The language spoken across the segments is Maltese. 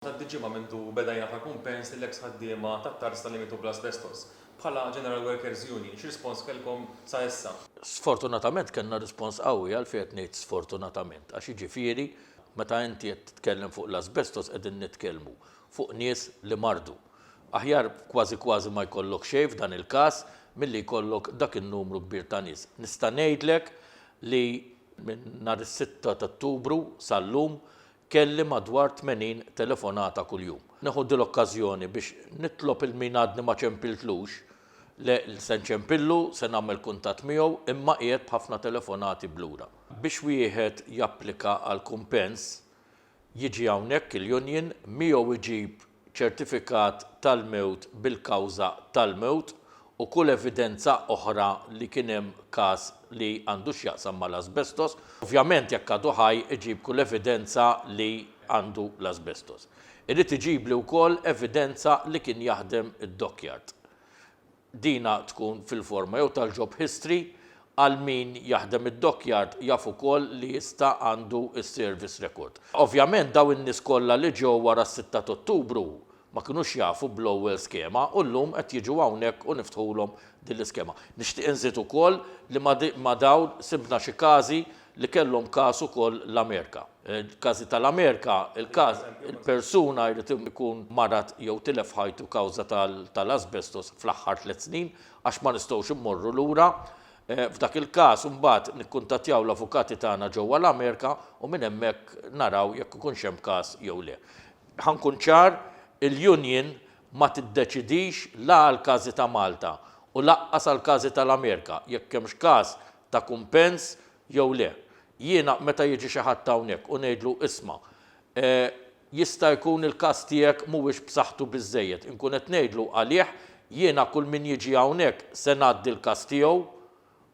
Tgħaddi ġimgħa mindu beda jingħata kumpens lill-eks ħaddiema tat-tarz ta' Limitu bl-Asbestos. Bħala General Workers Union, x'rispons kellkom sa issa? Sfortunatament kellna rispons qawwi, għalfejn qed ngħid sfortunatament? Għax jiġifieri meta inti qed titkellem fuq l-asbestos qegħdin nitkellmu fuq nies li mardu. Aħjar kważi kważi ma jkollok xejn f'dan il-każ milli jkollok dak in-numru kbir ta' nies. Nista' ngħidlek li minn nhar is-sitta t'Ottubru sal-lum Kelli madwar 80 telefonata kuljum. Neħu dil-okkażjoni biex nitlob il min għadni ma ċempiltlux, le se nċempillu, se nagħmel kuntatt miegħu imma qiegħed b'ħafna telefonati b'lura. Biex wieħed japplika għal kumpens jiġi hawnhekk il-union, miegħu iġib ċertifikat tal-mewt bil-kawża tal-mewt u kull evidenza oħra li kien hemm każ li għandu x'jaqsam mal-asbestos. Ovvjament jekk għadu ħaj iġib kull evidenza li għandu l-asbestos. Irid iġibli wkoll evidenza li kien jaħdem id-dockyard. Dina tkun fil-forma jew tal-job history, għal min jaħdem id-dockyard jaf ukoll li jista' għandu s-service record. Ovvjament dawn in-nies kollha li ġew wara s-sitta t'Ottubru ma kinux jafu bl-ewwel skema u llum qed jiġu hawnhekk u niftħulhom din l-iskema. Nixtieq inżid ukoll li ma' dawn sibna xi każi li kellhom każ ukoll l-Amerika. Il-każi tal-Amerika, il-każ, il-persuna jrid ikun marad jew tilef ħajtu kawża tal-asbestos fl-aħħar tliet snin, għax ma nistgħux immorru lura. F'dak il-każ, imbagħad nikkuntattjaw l-avukati tagħna ġewwa l-Amerika u minn hemmhekk naraw jekk ikunx hemm każ jew le. Ħa nkun ċar, il-union ma tiddeċidix la għall-każi ta' Malta u lanqas għall-każi tal-Amerika, jekk hemmx każ ta' kumpens jew le. Jiena meta jiġi xi ħadd hawnhekk u ngħidlu isma' jista' jkun il-każ tiegħek mhuwiex b'saħħtu biżżejjed, inkun qed ngħidlu għalih jiena kull min jiġi hawnhekk se ngħaddi l-każ tiegħu,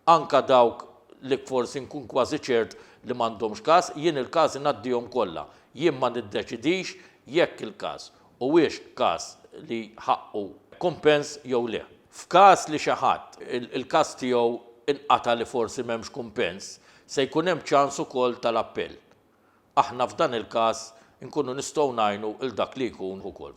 anke dawk li forsi nkun kważi ċert li m'għandhomx każ, jien il-każi ngħaddihom kollha. Jien ma niddeċidix jekk il-każ huwiex każ li ħaqqu kumpens jew le. F'każ li xi ħadd il-każ tiegħu nqata' li forsi m'hemmx kumpens, se jkun hemm ċans ukoll tal-appell. Aħna f'dan il-każ inkunu nistgħu ngħinu 'l dak li jkun ukoll.